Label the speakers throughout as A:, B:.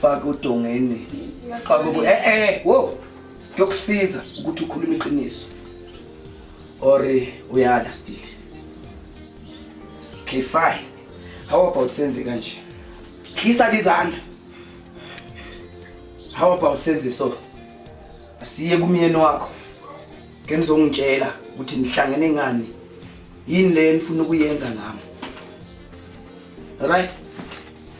A: faka udongeni faka uku eh eh wo kuyokusiza ukuthi ukhulume iqiniso or uyala still okay fine how about senze kanje khisa izandla how about senze so asiye kumyeni wakho ke nizongitshela ukuthi nihlangene ngani yini le nifuna ukuyenza nami right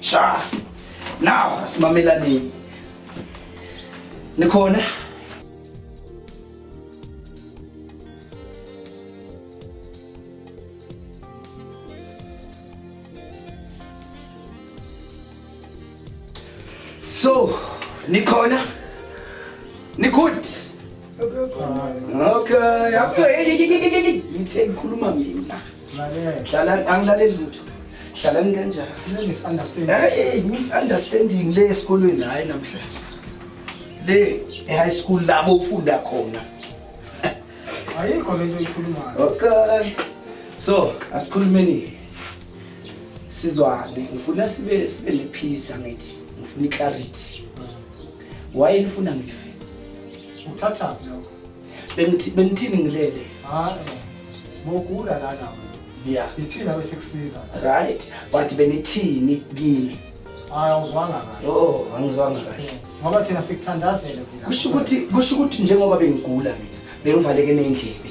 A: Cha. Now asimamelani. Nikhona? So, nikhona? Nikhona? Okay, yabona hey hey hey hey hey ngithe ngikhuluma mina. Hlala angilaleli lutho. Hlala ngikanjani? Hey, misunderstanding le esikolweni hayi namhlanje. Le e-high school labo ufunda khona.
B: Ayikho lento ikhulumayo. Okay.
A: So, asikhulumeni. Sizwane, ngifuna sibe sibe nephisa ngithi. Ngifuna iclarity. wayenifuna ngife uthathaphi
B: lokho benithini
A: ngilele hayi
B: mokula lana yeah ithina
A: bese kusiza
B: right but
A: benithini kimi hayi awuzwanga
B: kahle oh angizwanga kahle
A: ngoba thina sikuthandazele
B: thina kusho ukuthi kusho ukuthi
A: njengoba bengigula mina bengivaleke nendlebe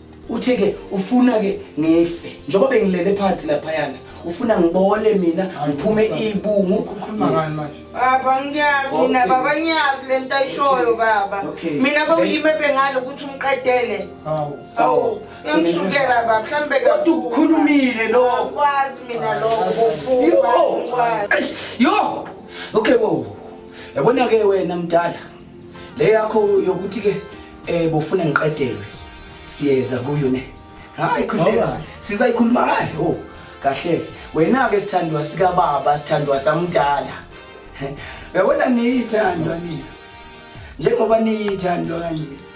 A: uthi ke ufuna ke ngife njengoba bengilele phansi laphayana ufuna ngibole mina ngiphume ibungu ukhuluma ngani manje
B: baba ngiyazi
C: mina baba ngiyazi le nto ayishoyo baba mina bewuyime bengalo ukuthi umqedele hawu hawu yamsukela baba mhlawumbe kodwa ukukhulumile lo
A: kwazi mina
C: lokho yo
A: okay wo yabona ke wena mdala Le yakho yokuthi ke eh bofuna ngiqedelwe siyeza kuyo ne. Hayi khuleka sizayikhuluma hayi oh kahle wena ke sithandwa sika baba sithandwa samdala. Uyabona niyithandwa nina. Njengoba niyithandwa kanje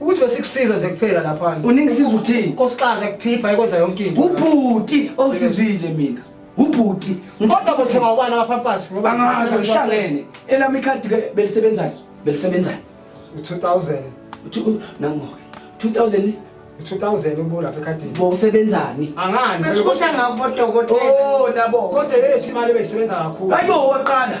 B: ukuthi besikusiza nje kuphela lapha uningisiza uthini
A: nkosikazi ekuphipha
B: ikwenza yonke into ubhuti
A: ongisizile mina ubhuti kodwa bothenga
B: ubani amapampasi ngoba angazi sihlangene
A: elami ikhadi ke belisebenzani belisebenzani u2000
B: nangoke 2000
A: 2000
B: ubula lapha ekhadini bo usebenzani
A: angani besikusha
B: ngabo
C: dokotela oh nabo
A: kodwa yethi imali
B: beyisebenza kakhulu hayibo waqala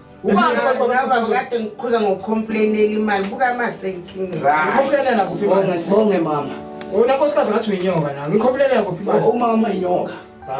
B: ubabakade
C: ngiqhuza ngokhomplainela imali buka masenkingebonge
B: mama
A: wona nkosikazi ngathi
B: uyinyoka na ngikhomplainela kuphi imali umama inyoka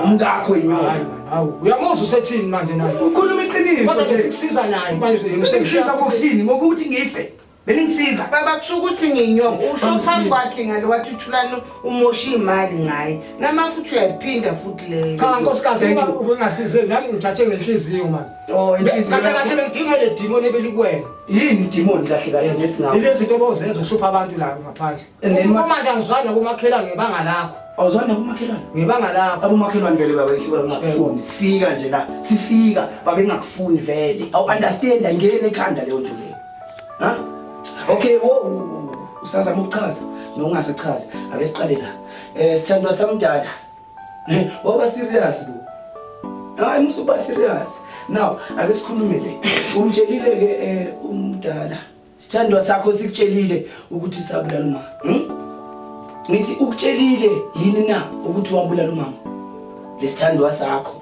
A: umkakho inyoka hawu uyamuzwa
B: usethini manje naye ukhuluma iqiniso kodwa
A: nje sikusiza
B: naye manje sikusiza ngokuthini
A: ngokuthi ngife Beningisiza. Baba kusho ukuthi
C: nginyonga usho phambi kwakhe ngale wathi uthulani umosha imali ngaye. Nama futhi uyayiphinda futhi leyo. Cha nkosikazi
B: ubengasize nami ngithathe ngenhliziyo manje. Oh inhliziyo. Kahle kahle
A: bengidinga le
B: demon ebelikuwena. Yini demon
A: kahle kahle ngesingawo. Ile zinto obozenza uhlupha
B: abantu la ngaphandle. Uma manje angizwana kumakhelwane ngebanga lakho. Awuzwana kumakhelwane?
A: Ngebanga lakho.
B: Abomakhelwane vele baba ihluka
A: ngakufuni. Sifika nje la. Sifika baba engakufuni vele. Awu understand ayingene ekhanda leyo nto. Ha? Okay, wo usazama ukuchaza nokungasachazi. Ake siqale la. Eh sithandwa samdala. Eh, waba serious bo. Hayi musuba serious. Now ake sikhulume le. Umtshelile ke eh umdala. Sithandwa sakho sikutshelile ukuthi sabulala uma. Hmm? Ngithi ukutshelile yini na ukuthi wabulala umama? Lesithandwa sakho.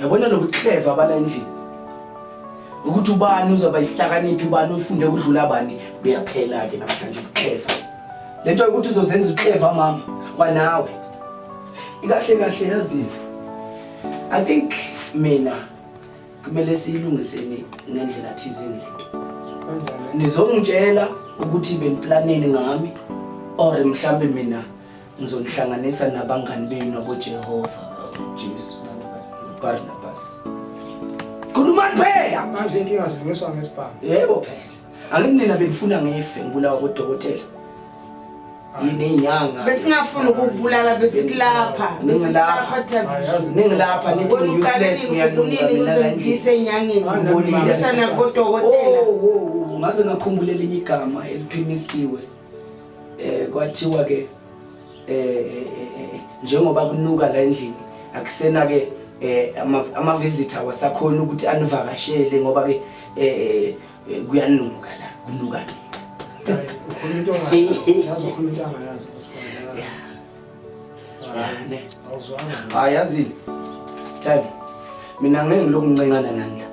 A: Yabona nokuthi clever abala endlini. Ukuthi ubani uzoba isihlakaniphi ubani ufunde ukudlula abani kuyaphela ke namhlanje uclever. Lento ukuthi uzozenza uclever mama kwanawe. Ikahle kahle yazini. I think mina kumele siyilungiseni ngendlela thizeni lento. Nizongitshela ukuthi beniplaneni ngami or mhlambe mina Ngizonihlanganisa nabangani benu naboJehova, uJesu, uBarnabas. Khulumani phela! Manje inkinga zilungiswa
B: ngesibhamu. Yebo phela.
A: Angithi nina benifuna ngife ngibulawa kodokotela. Yini inyanga? Besingafuna ukubulala
C: besithi lapha. Ningilapha. Ayazi
A: ningilapha nithi useless ngiyalunga mina la ngise enyangeni.
C: Ngibonile sana
A: kodokotela.
C: Oh, oh, oh, ngaze
A: ngakhumbula elinye igama eliphimisiwe. eh kwathiwa ke eh, eh, eh njengoba kunuka la endlini akusena ke eh ama visitor wasakhona ukuthi anivakashele ngoba ke eh kuyanuka la kunuka ke ukhuluma into ngayo yazi
B: ukhuluma into
A: ngayo yazi hayi yazini themba mina ngeke ngiloku ncencana nandla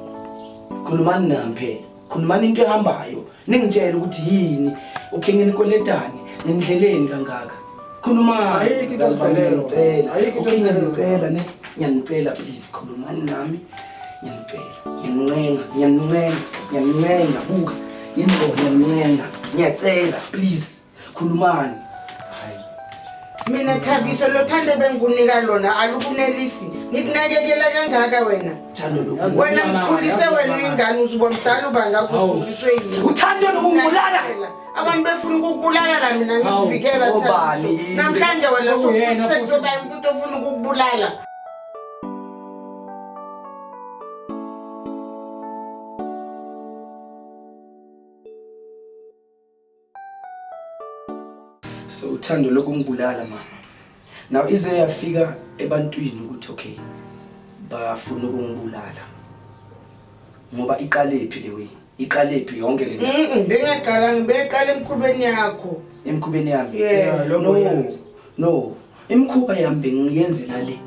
A: khulumani nami phela khulumani into ehambayo ningitshele ukuthi yini ukhinge nikoletane nindleleni kangaka
B: khulumanicela
A: ne ngiyanicela please khulumani nami ngiyanicela ngiyanincenga ngiyanincenga ngiyanincenga buka yini ngiyanincenga ngiyacela please Khulumani. Hayi.
C: Mina Thabiso lo thande bengikunika lona alukunelisi. Ngikunakekela kangaka wena. Thando lokhu. Wena mkhulise wena uyingane uzibona mdala ubanga kukhulisiwe yini. Uthando lokungibulala.
A: Abantu befuna
C: ukukubulala la mina ngikuvikela Thabiso. Obani. Namhlanje wena Uyena futhi. usukusezoba umuntu ofuna ukukubulala.
A: so uthando lokungibulala mama now ize yafika ebantwini ukuthi okay bafuna ukungibulala ngoba iqalephi le way iqalephi yonke le bengaqala
C: ngibeqala emkhubeni yakho emkhubeni yami
A: no
C: no
A: imkhuba yami bengiyenzela le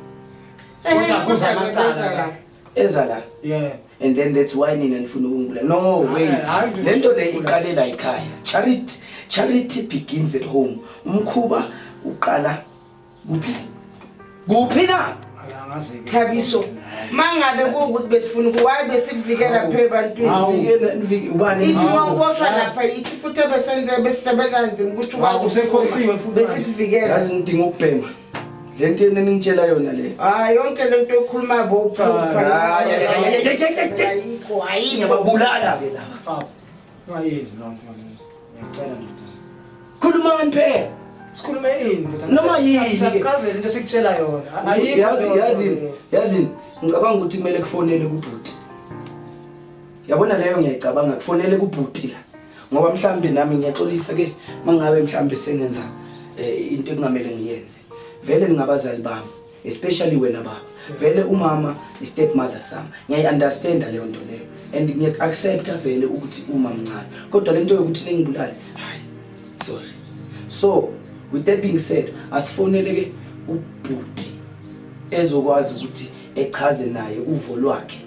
A: eh, kodwa
B: kuza amacala eza la
A: yeah and
B: then that's why
A: nina nifuna ukungibulala no wait lento le iqalela ekhaya charity charity begins at home umkhuba uqala kuphi kuphi na thabiso
C: mangabe kuwukuthi besifuna ukuwayi besikuvikela phe ebantwini ithi uma
A: uboshwa lapha
C: yithi futhi ebesenze besisebenza nzima ukuthi usekhohliwe futhi
B: besikuvikela ngidinga
C: ukubhema
A: Le nto yena ningitshela yona le. Ah yonke le nto
C: ekhuluma bo cha. Ayikho ayikho. Ngiyababulala ke laba. Cha. Ungayenzi lo nto manje.
A: Ngiyacela nje.
B: Khuluma ngani
A: phela? Sikhulume
B: ini ndoda? Noma yini. Siyachazela
A: into esikutshela
B: yona. Ayikho. Yazi yazi yazi
A: ngicabanga ukuthi kumele kufonele kubhuti. Yabona leyo ngiyayicabanga kufonele kubhuti la. ngoba mhlambe nami ngiyaxolisa ke mangabe mhlambe sengenza eh, into ekungamele ngiyenze vele ningabazali bami especially wena baba vele umama istep mother sami ngiyayi-understanda leyo nto leyo and ngiyaku-accepta vele ukuthi uma mncane kodwa le nto yokuthi ningibulale hayi sorry so with that being said asifonele ke ubhuti ezokwazi ukuthi echaze naye uvo lwakhe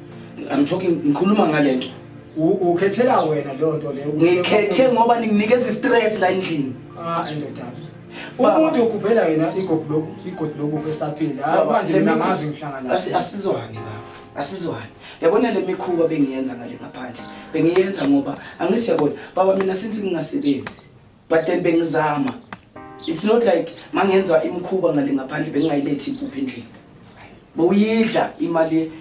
B: I'm talking ngikhuluma
A: ngalento. Ukhethela
B: wena lonto le. Ngikhethe ngoba
A: ninginikeza istress la endlini. Ah endoda.
B: Umuntu ukhuphela yena igogo lokhu igogo lokhu fesaphila. Ah, manje mina ngazi ngihlangana. Asizwani
A: baba. Asizwani. Yabona le mikhuba bengiyenza ngale ngaphandle. Bengiyenza ngoba angithi yabona baba mina since ngingasebenzi. but then bengizama it's not like mangenza imkhuba ngale ngaphandle bengingayilethi impuphu endlini bowuyidla imali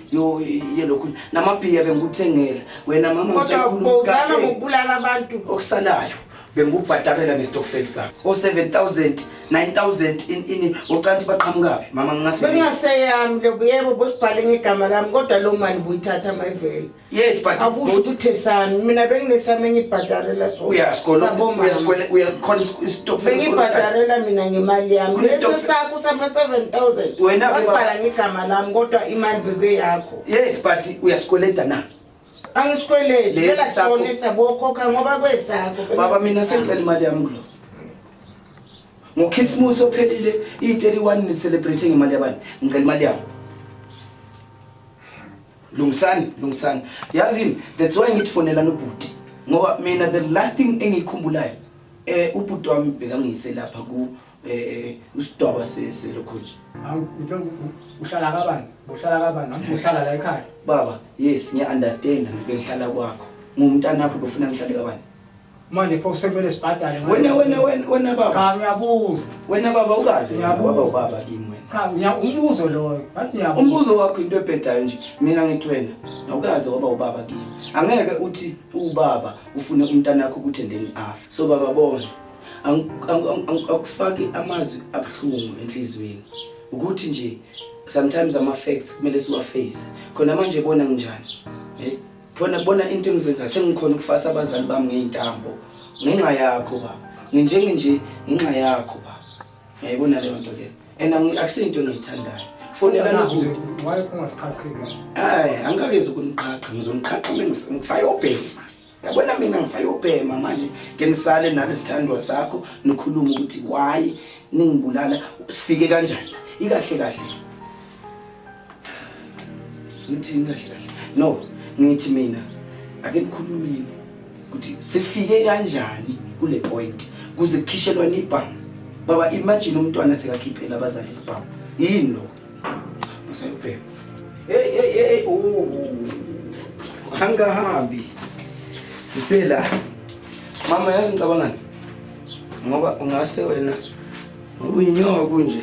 A: yelokhu namabhiya bengikuthengela wena mama kodwauzama ngokubulala
C: abantu okusalayo
A: bengikubhadalela ngestokfel sakho o-7 000 9 000 in ini ocanti baqhamukaphi mama ngingasebeyami
C: lobo yebo bosibhale ngegama lami kodwa loo mali buyithatha mayivele Yes but akusho
A: ukuthi sami
C: mina benginesami engibhadarela so uyasikona uyasikona
A: uyakhona istop bengibhadarela mina
C: ngemali yami bese sakho sama 7000 wena ubhala
A: ngigama lami
C: kodwa imali bebe yakho yes but
A: uyasikweleda na angisikweledi
C: phela sona sabokhokha ngoba kwesakho baba mina sengicela
A: imali yami kulo ngokhisimusi ophelile iyi-31 ni-celebrating imali yabani ngicela imali yami Lungisani, lungisani. Yazini, that's why ngithi fonela nobhuti. Ngoba mina the last thing engiyikhumbulayo eh ubhuti wami bekangiyise lapha ku eh, eh usidwaba selokho nje. Hawu uthe
B: uhlala kabani? Uhlala kabani? Nami uhlala la ekhaya. Baba, yes
A: ngiya understand ngibe ngihlala kwakho. Ngumntanakho befuna ngihlale kabani? manje pho
B: sekumele sibhadale ngani? Wena wena wena wena
A: baba. cha ngiyabuza
B: Wena baba ukaze
A: Ngiyabuza. waba ubaba kimi wena. cha ngiya- umbuzo loyo
B: ngathi ngiyabuza Umbuzo wakho into ebhedayo
A: nje. Mina ngithi wena awukaze waba ubaba kimi. Angeke uthi ubaba ufune umntana wakho ukuthi endeni afa. So baba bona. ang- ang- ang- ang- Akufaki amazwi abuhlungu enhlizweni. Ukuthi nje sometimes ama facts kumele siwaface. Khona manje bona nginjani. Eh? Bona bona into engizenza sengikhona ukufasa abazali bami ngeintambo ngenxa yakho baba. Nginjenge nje ngenxa yakho baba. Ngiyayibona leyo nto leyo. And akusinto engiyithandayo. Fonela nakude. Why
B: ungasiqhaqheki? Hayi, angikakezi
A: ukuniqhaqha, ngizoniqhaqha ngisayobhema. Yabona mina ngisayobhema manje ke nisale nalo sithandwa sakho nikhuluma ukuthi why ningibulala sifike kanjani? Ikahle kahle. ngithini kahle kahle no ngithi mina ake nikhulumeni ukuthi sifike kanjani kule point kuze kukhishelwane ibhamu baba imagine umntwana sekakhiphela abazali isibhamu yini lo masayobheka hey hey hey oh angahambi sisela mama yazi ngicabangani ngoba ungase wena uyinyoka kunje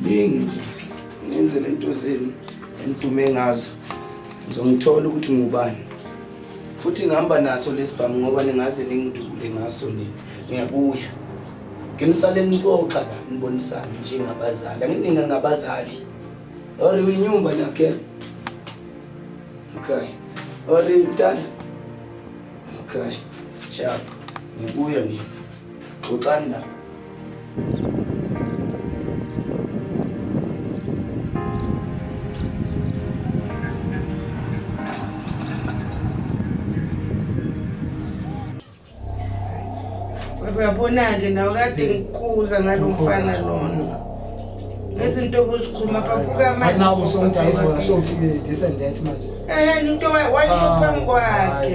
A: Bengi ngenze lento zenu engidume ngazo. Ngizongithola ukuthi ngubani. Futhi ngihamba naso lesibhamu ngoba ningaze ningidubule ngaso nini. Ngiyabuya. Nginisale nixoxa la nibonisana njengabazali. Angingena ngabazali. Or winyumba nakhe. Okay. Or mdala. Okay. Ciao. Ngibuya nini. Xoxani
C: la. uyabona-ke nawe kade ngikuza ngalo mfana lona ngezinto obuzikhuluma phaphuka amanzisondayisothi
B: this and that manje eheni into
C: wayisho phambi kwakhe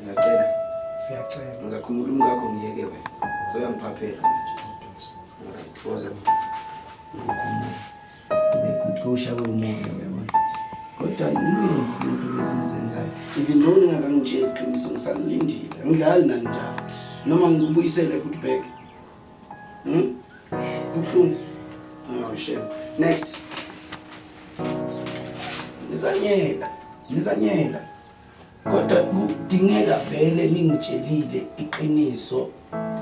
B: Ngiyacela.
A: Siyacela.
B: Ngizakhumula umkakho
A: ngiyeke wena. Soyangiphaphela manje. Ngiyakuthokoza mina. Ukukhumula. Bekutkusha kwemoya uyabona. Kodwa inenzi into lezizenzayo. Even though ningakangitsheli iqiniso ngisalindile. Angidlali nani njalo. Noma ngikubuyisele futhi back. Hmm? Kubuhlungu. Oh shame. Next. Nizanyela. Nizanyela. Kodwa kudingeka vele ningitshelile iqiniso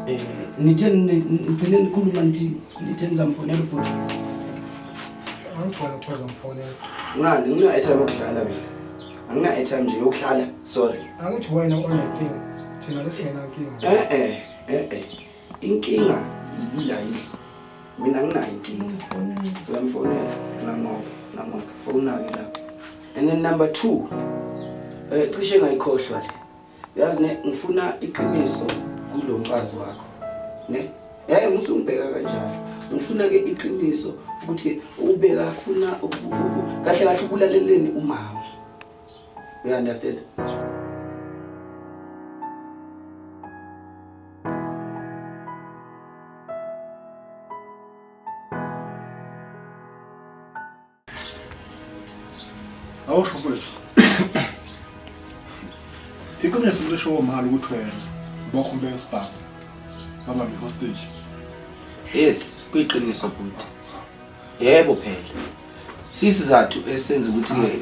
A: eh nithe nigcine nikhuluma nithi nithe nizamfonela ubhuti. Angigcona
B: uthoza mfonela. Ngani ngina
A: airtime yokudlala mina. Angina airtime nje yokudlala sorry. Angithi wena onenkinga
B: thina lesingenankinga. Eh eh eh eh.
A: Inkinga yila yidla. Mina nginayo inkinga. Uyamfonela nangoba nangoba fowuna-ke la. And then number two eh cishe ngayikhohlwa le. Yazi ne ngifuna iqiniso kulo mfazi wakho. Ne? Eh musungibheka kanjalo. Ngifuna ke iqiniso ukuthi ubeka afuna kahle kahle ukulaleleni umama. You understand?
D: awusho mfowethu iqiniso lisho womali ukuthi wena bokhumbe esibhamu babambe hostage yes
A: kuyiqiniso bhuti Yebo phela. Sisizathu esenza ukuthi ke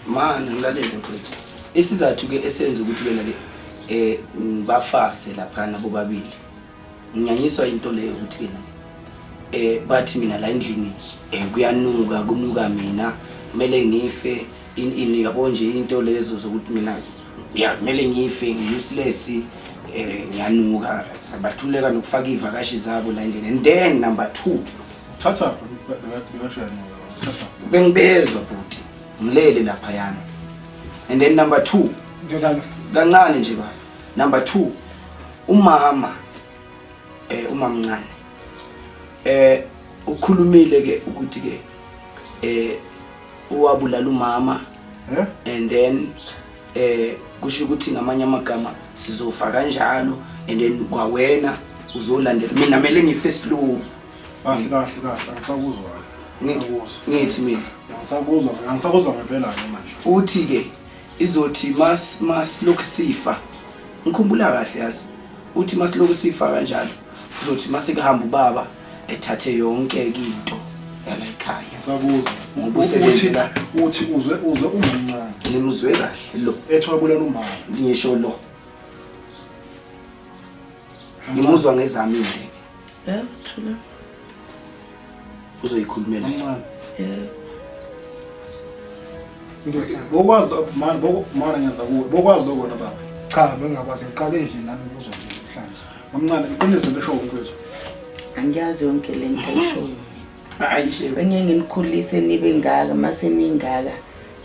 A: manje ngilalele mfethu. Isizathu ke esenza ukuthi ke lale eh bafase lapha nabo babili. Nginyanyiswa into leyo ukuthi ke eh bathi mina la endlini eh kuyanuka kunuka mina kumele ngife in in yabo nje into lezo zokuthi mina ya kumele ngife ngiuseless eh ngiyanuka sabathuleka nokufaka ivakashi zabo la endlini and then number 2 Thatha
D: bekashayanqola. Thatha. Bengibezwa
A: bhuti. Ngilele lapha yana. And then number 2. Ndodana.
B: Kancane nje baba.
A: Number 2. Umama eh umamncane. Eh ukhulumile ke ukuthi ke eh uwabulala umama. Eh? And then eh kusho ukuthi ngamanye amagama sizofa kanjalo and then kwawena uzolandela mina mele ngife slow kahle kahle
D: kahle angisakuzwa angisakuzwa
A: ngithi mina angisakuzwa angisakuzwa
D: ngempela ke manje uthi ke
A: izothi mas mas lokhu sifa ngikhumbula kahle yazi uthi mas lokhu sifa kanjalo uzothi mase kuhamba ubaba ethathe yonke into yala ekhaya ngisakuzwa ngoba usebenzi
D: la uthi uzwe uzwe umncane ngimuzwe kahle
A: lo ethwa bulala umama
D: ngisho lo
A: ngimuzwa ngezami nje Yeah, true. Uzoyikhulumela.
B: Yeah. Bokwazi lokho
D: mani bokumana ngenza kuwe. Bokwazi lokho na baba. Cha, bengakwazi
B: ngiqale nje nami kuzo namhlanje. Mamncane, iqiniso
D: lesho umfethu. Angiyazi
C: yonke lento ayishoyo. Hayi shebe.
A: Benye nginikhulise
C: nibe ngaka mase ningaka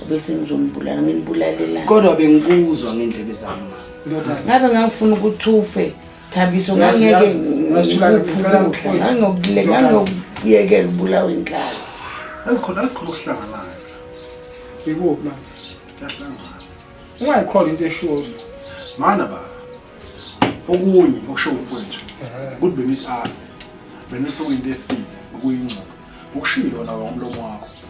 C: bese ngizombulala nginibulalela. Kodwa bengikuzwa
A: ngendlebe zami. Ngabe
B: ngangifuna
C: ukuthi ufe. Thabiso ngangeke ngangokuyekela ubulawa inhlala azikhona
D: azikhona okuhlanganayo
B: ikuphi manje
D: kuyahlangana ungayikhona
B: into esholo mana baba
D: okunye okusho umfowethu ukuthi bengithi afe bengisokwinto efile ukuyingcoba ukushilo wona womlomo wakho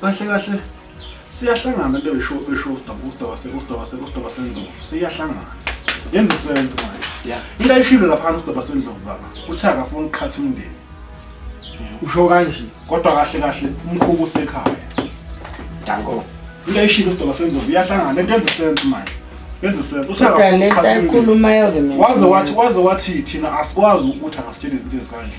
C: Kahle kahle
D: siyahlangana into esho esho uSdoba uSdoba se uSdoba se uSdoba sendlovu siyahlangana. Yenza sense manje. Yeah. Into ayishilo lapha uSdoba sendlovu baba. Uthe akafuni ukuqhatha umndeni.
B: Usho kanje. Kodwa kahle kahle
D: umkhuku usekhaya. Danko.
A: Into ayishilo
D: uSdoba sendlovu iyahlangana into yenza sense manje. Yenza sense. Uthe Kodwa le akafuni nto ukuqhatha umndeni. ayikhulumayo
C: ke mina.
D: Waze
C: wathi waze wathi thina
D: asikwazi ukuthi angasitshela izinto ezikanje.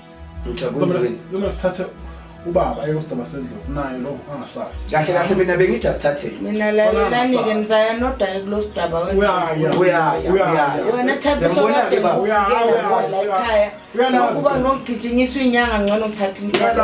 D: Ngicabanga
A: sithathe
D: ubaba ayosidaba sendlovu naye lo angasali kahle kahle mina bengithi
A: asithathele mina lalelani-ke
C: nisaya nodaye kulo sidaba wena thabisokadeuyalayikhaya ukuba nokugijinyiswa inyanga ngcono kuthatha imntwana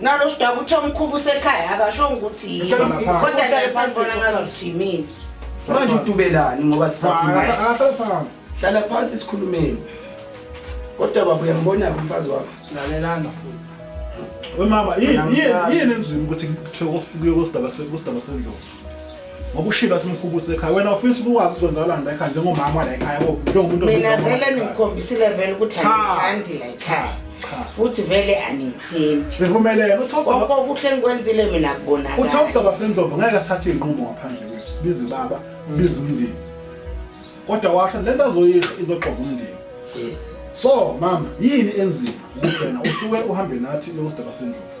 D: nalo sidaba uthi
C: omkhulu usekhaya akashongo ukuthi yini kodwa nje phansi bona ngazuthi yimini manje
A: udubelani ngoba sisaphansi
D: hlala phansi
A: sikhulumeni kodwa baba uyambona-ke umfazi wakho lalelana
B: futhi
D: wemama yini yini yini enzima ukuthi kuthiwe kuye kosidaba sendlovu ngokushilo simkhubuse ekhaya wena ufisa ukwazi uzonzakalani la ekhaya njengomama la ekhaya bo njengomuntu mina vele
C: ningikhombisile vele ukuthi angithandi la ekhaya futhi vele angithembi sivumelene uthofda
D: okuhle
C: ngikwenzile mina kubonakala uthofda basendlovu
D: ngeke sithathe inqumo ngaphandle kwethu sibize baba sibize umndeni kodwa washo lento azoyisho izoxova umndeni yes
A: so mama
D: yini enzima ukuthi wena usuke uhambe nathi lowo sdaba sendlovu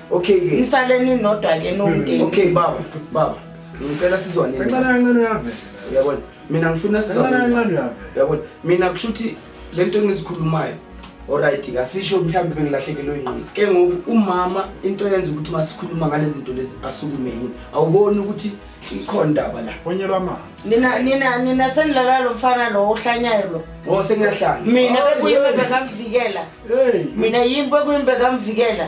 C: Okay ke.
A: Nisaleni nodwa ke
C: nomndeni. Okay baba,
A: baba. Ngicela sizwane. Kancane kancane uyavela.
D: Uyabona? Mina
A: ngifuna sizwane. Kancane kancane uyavela.
D: Uyabona? Mina
A: kushuthi lento engizikhulumayo Alright, ngasisho mhlawumbe bengilahlekelwe ingqondo. Ke ngoku umama into yenza ukuthi masikhuluma ngalezi zinto lezi asukume yini. Awuboni ukuthi ikhona indaba la. Onyelwa amanzi. Nina
D: nina nina senilala
C: lo mfana lo ohlanyayo lo. Oh sengiyahlanya.
A: Mina bekuyimbeka
C: mvikela. Hey. Mina yimbe kuyimbeka mvikela.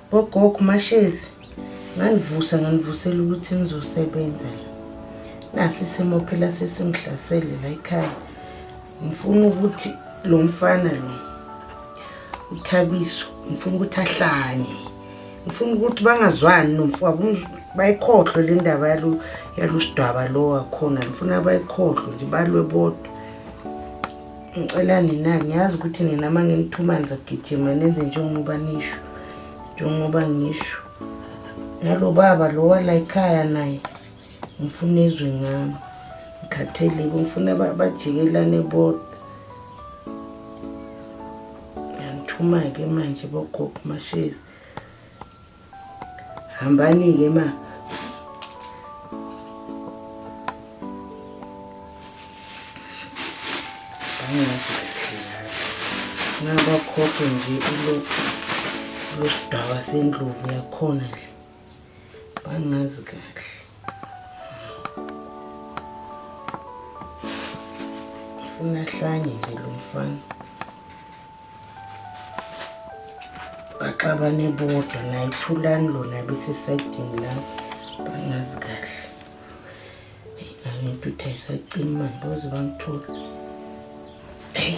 C: Bogogo Mashezi nganivusa nganivusela ukuthi nizosebenza la. Nasi isimo phela sesimhlasele la ekhaya. Ngifuna ukuthi lo mfana lo uthabiso ngifuna ukuthi ahlanye. Ngifuna ukuthi bangazwani nomfowabo bayikhohlwe le ndaba yalo yalusidwaba lo wakhona ngifuna bayikhohlwe nje balwe bodwa. ngicela nina ngiyazi ukuthi nina uma nginithuma ngizogijima nenze njengoba nisho njengoba ngisho nalo baba lo walayikhaya naye ngifuna ezwe ngami ngikhatheleke ngifuna bajikelane bodwa ngiyanithuma-ke manje bogogo mashezi Hambani-ke ma. Ngabakhokhe nje ilokhu losidaba sendlovu yakhona nje. Bangazi kahle. Ufuna hlanye nje lo mfana. baxabane bodwa naye thulani lona besisaydini lami bangazi kahle angintuthu ayisacimi manje baze bangithola eyi